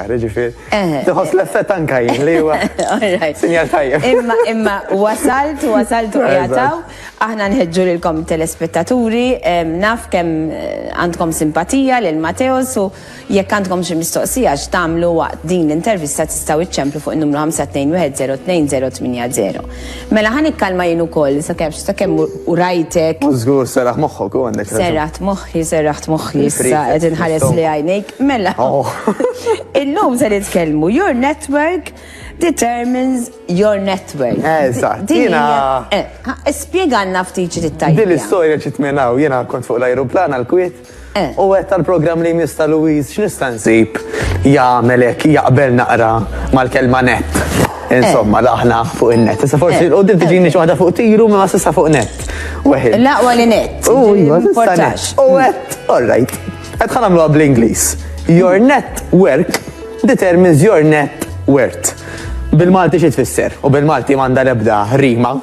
Ara ġifier, tħoss l-effett anka jien li huwa sinjal tajjeb. Imma imma wasalt, wasalt u qiegħed hawn. Aħna nħeġġu lilkom telespettaturi, naf kemm għandkom simpatija lil Matteos u jekk għandkom xi mistoqsija x'tagħmlu waqt din l-intervista tistgħu iċċemplu fuq in-numru 521 02 080. Mela ħa nikkalma jien ukoll sakemm sakemm u rajtek. U żgur serraħ moħħok u għandek raġun. Serraħt moħħi, serraħt moħħi issa Il-prefect qed inħares li fl-istomach. għajnejk. Mela. Oh. Illum se nitkellmu your network determines your network. Eh, eżatt, Din jiena- hija- eh, ha, Spjegalna ftit xi tittajja. Din l-istorja ġiet minn hawn, jiena kont fuq l-ajruplan għal-Kwiet. U għedt għall-programm li jmiss ta' Louise x'nista' nsib jagħmel hekk jaqbel naqra mal-kelma net. Insomma, l-aħna fuq in-net. Issa forsi eh. l-qudiem tiġini xi waħda fuq tiru ma s'issa fuq net. Weħid. L-aqwa li net. U iva, importax. U għedt, all right. Qed ħanamluha bl-Ingliż. Your net work determines your net worth. Bil-Malti xi tfisser? U bil-Malti m'għandha l-ebda rima.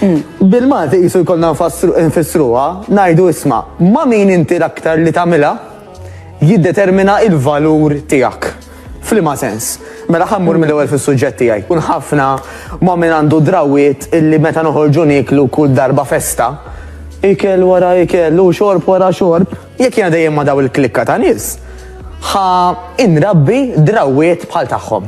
Bil-Malti qisu jkollna nfissruha, ngħidu isma' ma' min inti l-aktar li tagħmilha jiddetermina il-valur tiegħek. F'liema sens? Mela ħa mmur mill-ewwel fis-suġġett tiegħi. Kun ħafna ma' min għandu drawiet illi meta noħorġu nieklu kull darba festa, ikel wara ikel u xorb wara xorb, jekk jiena dejjem ma' daw il-klikka ta' nies, ħa inrabbi drawiet bħal tagħhom.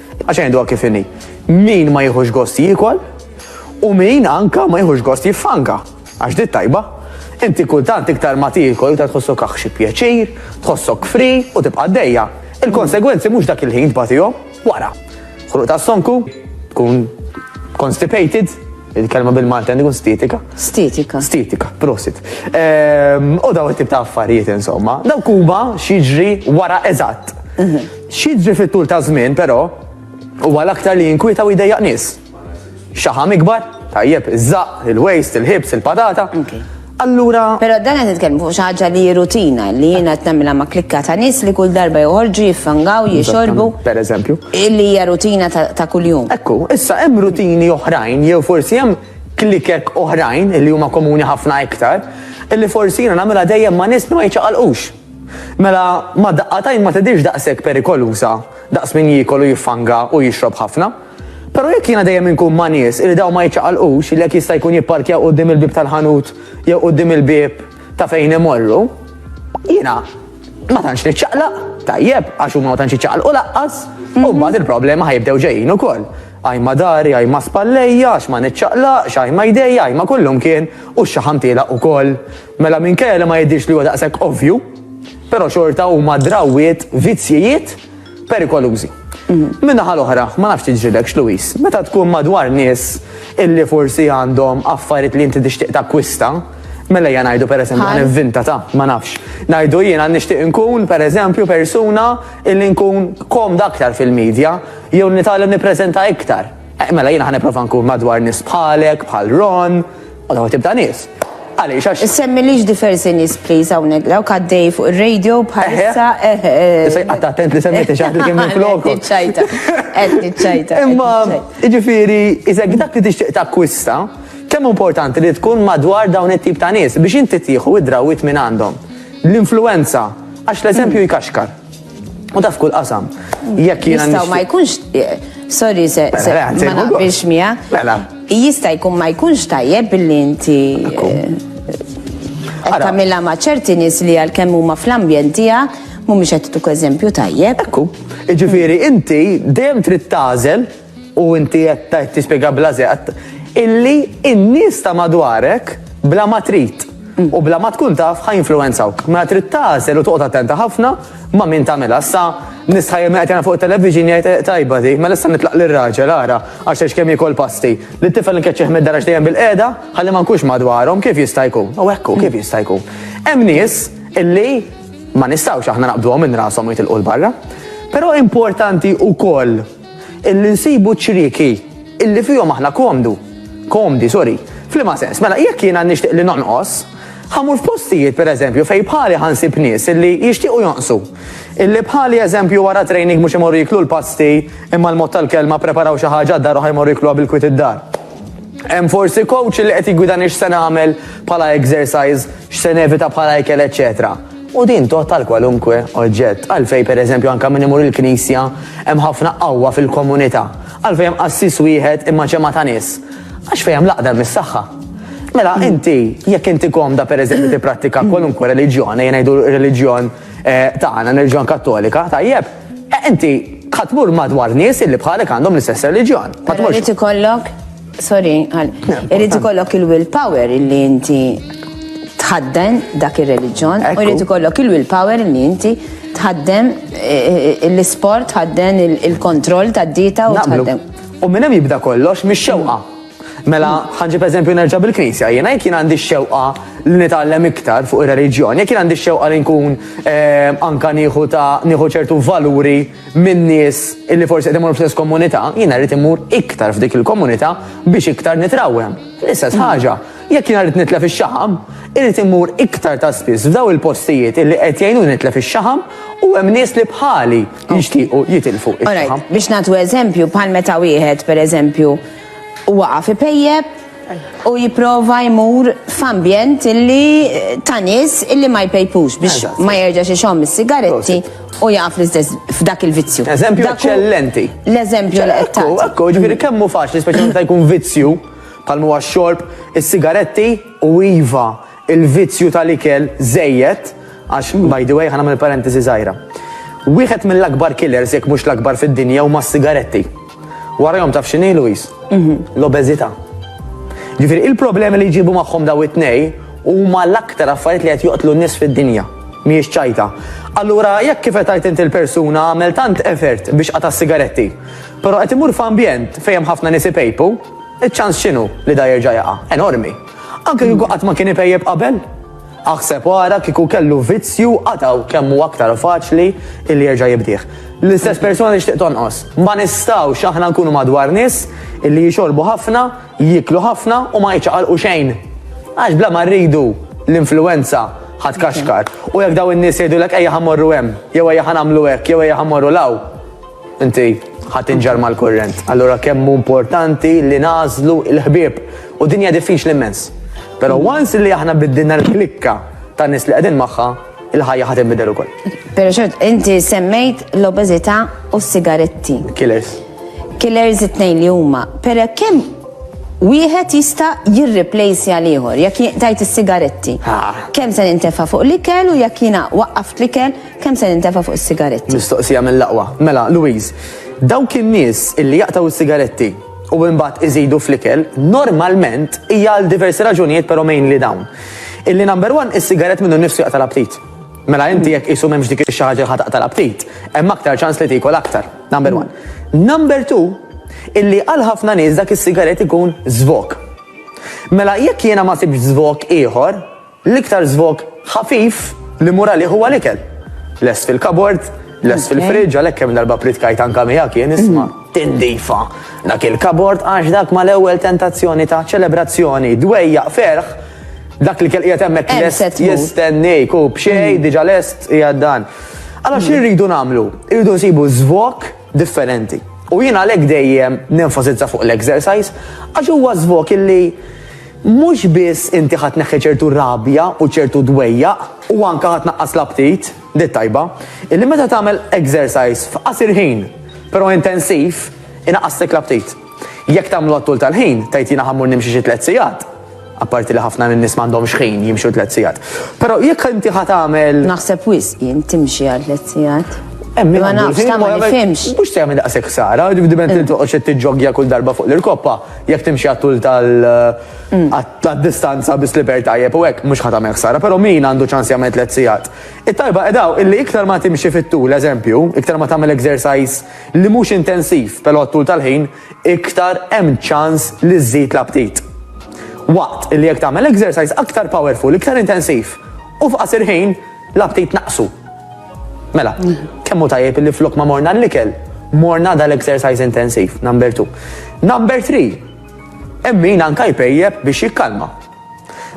Għax għajnduha kif inhi. Min ma jieħux gost jiekol u min anka ma jieħux gost jiffanka. Għax dit tajba. Inti kultant iktar ma tiekol iktar tħossok aħxi pjaċir, tħossok fri u tibqa' dejja. Il-konsegwenzi mhux dak il-ħin tbatihom wara. Ħruq ta' sonku, tkun constipated, il-kelma bil-Malta għandu stetika. Stetika. Stetika, prosit. Ehm, u daw it-tip ta' affarijiet insomma. Daw kuba xieġri wara eżatt. Mhm. X'jiġri fit-tul taż-żmien, però, huwa l-aktar li jinkwieta u jdejjaq nies. Xaħam ikbar? Tajjeb, iż-żaqq, il-waste, il-ħibs, il-patata. Allura. Però dan qed nitkellmu fuq xi ħaġa li hi rutina li jien qed nagħmilha ma' klikka ta' nies li kull darba joħorġu jiffangaw, jixorbu. Pereżempju. Illi hija rutina ta' kuljum. Ekku, issa hemm rutini oħrajn jew forsi hemm klikek oħrajn li huma komuni ħafna iktar, illi forsi jiena nagħmilha dejjem ma' nies li ma jiċċaqalqux. Mela, ma' daqqa t'għajn ma tidhirx daqshekk perikoluża daqs min jiekol u jiffanga u jixrob ħafna. Però jekk jiena dejjem inkun ma' nies li dawn ma jiċċaqalqux li hekk jista' jkun jipparkjaw quddiem il-bieb tal-ħanut jew quddiem il-bieb ta' fejn imorru, jiena ma tantx niċċaqlaq, tajjeb, għax huma ma tantx jiċċaqalqu lanqas, u mbagħad il-problema ħa jibdew ġejjin ukoll. Għajma dari, għajma spallejja, għax ma niċċaqlaqx, għajma jdejja, għajma kullumkien, u x-xaħam tielaq ukoll. Mela minkejja li ma jidhirx li huwa daqshekk ovvju, però xorta huma drawwiet, vizzjijiet perikolużi. Min-naħa l-oħra, ma nafx tiġrilekx Louis, meta tkun madwar nies illi forsi għandhom affarijiet li inti tixtieq takkwista, mela ejja ngħidu pereżempju, ħa nivvinta ta, ma nafx, ngħidu jiena nixtieq inkun pereżempju persuna illi nkun komda aktar fil-media jew nitgħallem nippreżenta iktar. Eh, mela jiena ħa nipprova nkun madwar nies bħalek, bħal Ron, Għadu għatib ta' nis. Għalix, għax. Semmi liġ diversi nis, please, għawnek, għaw kaddej fuq il-radio bħalissa. Sej, għatta attent li semmi t-ċaħt li kemmi flok. Għetniċċajta, għetniċċajta. Imma, ġifiri, iżek dak li tixtiq ta' kwista, kemm importanti li tkun madwar dawn it-tip ta' nis biex inti tieħu id-drawit minn għandhom. L-influenza, għax l-eżempju jkaxkar. U daf kull qasam. Jekk jiena. Jistaw ma jkunx. Eh, sorry, se. Mela, ma naqbilx mija. Mela. Jista jkun ma jkunx tajjeb billi inti. Kamilla eh, ma ċerti nis li għal kemm huma fl-ambjent tiegħek mhumiex qed eżempju tajjeb. Ekku. Ġifieri inti dejjem trid tażel U inti qed tgħid tispjega bla żeqq illi n-nies ta' madwarek bla ma trid u bla ma tkun taf ħa jinfluwenzawk. Mela trid tagħżel u toqgħod attenta ħafna ma' min tagħmilha. Issa nies ħajja min qed jagħmel fuq it-television jgħid eh, tajba di, mela issa nitlaq lir-raġel ara għax għax kemm jiekol pasti. Li t-tifel nkeċċih mid-dar għax dejjem bil-qiegħda ħalli ma nkunx madwarhom kif jista' jkun. U hekk hu kif jista' jkun. Hemm nies illi ma nistgħux aħna naqbduhom minn rashom u jitilqu l-barra. Però importanti wkoll Illi nsibu ċ-ċrieki illi fihom aħna komdu, komdi, sorry. F'liema sens? Mela, jekk jiena nixtieq li nonqos, ħa mmur f'postijiet, per eżempju, fejn bħali ħa nsib nies illi jixtiequ jonqsu. Illi bħali, eżempju, wara training mhux imorru jieklu l-pasti, imma l-mod tal-kelma ppreparaw xi ħaġa għad-dar u ħa jmorru jiekluha bil-kwiet id-dar. Hemm forsi coach illi qed jiggwidani x'se nagħmel bħala exercise, x'se nevita bħala ikel, eċċetera. U din tgħodd għal kwalunkwe oġġett. Għalfejn, per eżempju, anke minn imur il-knisja hemm ħafna qawwa fil-komunità? Għalfejn hemm qassis wieħed imma ġemgħa ta' nies? Għax fejn hemm l-għaqda hemm is-saħħa. Mela inti, jekk inti komda per eżempju tipprattika kwalunkwe reliġjon, ejja ngħidu r-reliġjon tagħna, r-reliġjon Kattolika, tajjeb, inti ħa tmur madwar nies illi bħalek għandhom l-istess reliġjon. Però jrid ikollok Sorry, għal. Irrid ikollok il-will power illi inti tħadden dak ir-reliġjon, u irrid ikollok il-will power illi inti tħaddem eh, eh, l-isport, tħadden il-kontroll tad-dita u tħaddem. U minn hemm jibda kollox mix-xewqa. Mela, ħanġib eżempju nerġa' bil-Knisja, jiena jekk jien għandi xewqa li nitgħallem iktar fuq ir-reliġjon, jekk jien għandi xewqa li nkun eh, anka nieħu ta' nieħu ċertu valuri minn nies illi forsi qed imur fl-istess komunità, jiena rrid imur iktar f'dik il-komunità biex iktar nitrawem. L-istess mm. ħaġa, jekk jiena rrid nitlef ix-xaħam, irrid imur iktar ta' spiss f'daw il-postijiet illi qed jgħinu nitlef ix-xaħam u hemm nies li bħali jixtiequ jitilfu ix-xaħam. Biex nagħtu eżempju bħal meta wieħed pereżempju waqa' fi pejjeb u jipprova jmur f'ambjent illi ta' nies illi ma jpejpux biex Eżatt. ma jerġax ixomm is-sigaretti u jaqaf l-istess f'dak il-vizzju. Eżempju Dak hu eċċellenti. L-eżempju li qed Ekku, tagħti. ekku, ġifieri kemm hu faċli, speċjalment meta jkun vizzju, bħal huwa x-xorb, is-sigaretti u iva, il-vizzju tal-ikel żejjed, għax, by the way, ħa nagħmel parentesi żgħira. Wieħed mill-akbar killers jekk mhux l-akbar fid-dinja huma s-sigaretti. Warahom taf x'inhi Luis? Mhm. L-obeżità. Ġifieri il-problemi li jġibu magħhom daw it-tnej huma l-aktar affarijiet li qed joqtlu n-nies fid-dinja. Mhijiex ċajta. Allura jekk kif qed inti l-persuna għamel tant effort biex qata' sigaretti, però qed imur f'ambjent fejn hemm ħafna nies ipejpu, iċ-ċans x'inhu li da jerġa' jaqa'? Enormi. Anke kieku qatt ma kien ipejjeb qabel. Aħseb u ara kieku kellu vizzju qataw kemm hu aktar faċli illi jerġa' jibdih. L-istess persuna li xtieq tonqos. Ma nistgħux aħna nkunu madwar nies illi jixorbu ħafna, jieklu ħafna u ma jiċċaqalqu xejn. Għax bla ma rridu l-influenza ħadd kaxkar. U jekk daw in-nies jgħidulek ejja ħammorru hemm, jew ejja ħanamlu hekk, jew ejja ħammorru law. Inti ħadd inġar mal-kurrent. Allura kemm hu importanti li nażlu l-ħbieb. U dinja diffiċli immens. Però once li aħna biddilna l-klikka ta' nies li qegħdin magħha, il-ħajja ħadd inbidel ukoll. Però xort, inti semmejt l-obeżità u s-sigaretti. Killers. Killers it-tnejn li huma. Però kemm wieħed jista' jirreplace għal ieħor jekk tajt is-sigaretti. Kemm se nintefa' fuq l-ikel u jekk jiena waqqaft l-ikel Kemm se nintefa' fuq is-sigaretti? Mistoqsija mill-aqwa. Mela, Louise, dawk in-nies illi jaqtgħu s-sigaretti u imbagħad iżidu fl-ikel, normalment hija għal diversi raġunijiet però mainly dawn. Illi number one, is-sigarett minnu nnifsu jaqta' l-aptit. Mela inti jekk qisu m'hemmx dik ix-xi ħaġa li ħa taqta' l-aptit, hemm aktar ċans li tiekol aktar. Number one. Number two, illi għal ħafna nies dak is-sigarett ikun żvok. Mela jekk jiena ma sibtx żvok ieħor, L-iktar żvog ħafif li mmur għalih huwa l-ikel. Lest fil-kabord, lest fil-friġġ, għalhekk kemm darba pritkajt anke miegħek jien isma' tindifa dak il-kabord għax dak mal-ewwel tentazzjoni ta' ċelebrazzjoni, dwejjaq ferħ, dak li kelqiegħed hemmhekk lest jistennik u b'xejn diġà lest qiegħed dan. Allora xi rridu nagħmlu? Irridu nsibu żvog differenti. U jien għalhekk dejjem nenfasizza fuq l-exercise għax huwa żvok illi mhux biss inti ħadd neħħi ċertu rabja u ċertu dwejja u anke ħadd naqqas l-aptit, dit tajba, illi meta tagħmel exercise f'qasir ħin, però intensiv, inaqqaslek l-aptit. Jekk tagħmlu għat-tul tal-ħin, tgħid jiena ħa mmur nimxi xi tliet sigħat, apparti li ħafna min-nies m'għandhomx ħin jimxu tliet sigħat. Però jekk inti ħa tagħmel. Naħseb wisq jien timxi għal tliet sigħat. Hemm min Ma għandu nafx, l-ħin ta' ma ma jagħmel- jifhimx. Mhux se jagħmel daqshekk ħsara, diment li toqgħodx qed tiġġoggja kull darba fuq l-irkoppa, jekk timxi għat-tul tal- għat- tad-distanza bi sliper tajjeb u hekk mhux ħa tagħmel ħsara, però min għandu ċans jagħmel tliet sigħat. It-tajba qedaw illi iktar ma timxi fit-tul, eżempju, iktar ma tagħmel exercise li mhux intensiv però t-tul tal-ħin iktar hemm ċans li żżid l-aptit. Waqt li jekk tagħmel exercise aktar powerful, iktar intensiv u f'qasir ħin l-aptit naqsu. Mela, kemm hu tajjeb li flok ma morna l-ikel, morna dal-exercise intensiv, number 2. Number 3, hemm min anka jpejjeb biex jikkalma.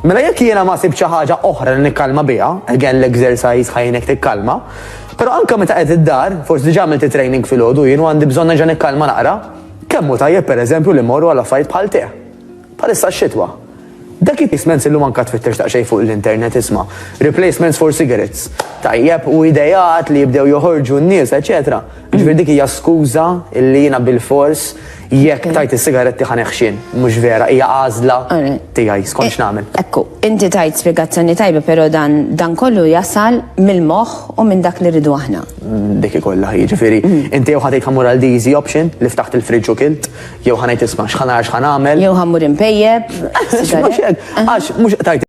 Mela jekk jiena ma sibx xi ħaġa oħra li nikkalma biha, again l-exercise ħajnek tikkalma, però anke meta qed id-dar, forsi diġà għamilt it-training filgħodu jien u għandi bżonn nerġa' nikkalma naqra, kemm hu tajjeb pereżempju li mmorru għal affarijiet bħal tè. Bħalissa x-xitwa. Dak it-replacements illum anke tfittex daqsxejn fuq l-internet isma'. Replacements for cigarettes. Tajjeb u ideat li jibdew joħorġu n-nies, eċetera. Ġifieri dik hija skuża li jiena bil-fors Jekk tajt is-sigaretti ħa neħxien, mhux vera, hija għażla tiegħi, skont eh, x'nagħmel. Ekku, inti tajt spjegazzjoni tajba, però dan dan kollu jasal mill-moħħ u minn dak li rridu aħna. Mm, dik ikollha jiġifieri, mm. inti jew ħadejt ħamur għal easy option li ftaħt il-friġġ u kilt, jew ħanajt isma' x'ħanar x'ħanagħmel. Jew ħammur impejjeb. Għax mhux tajt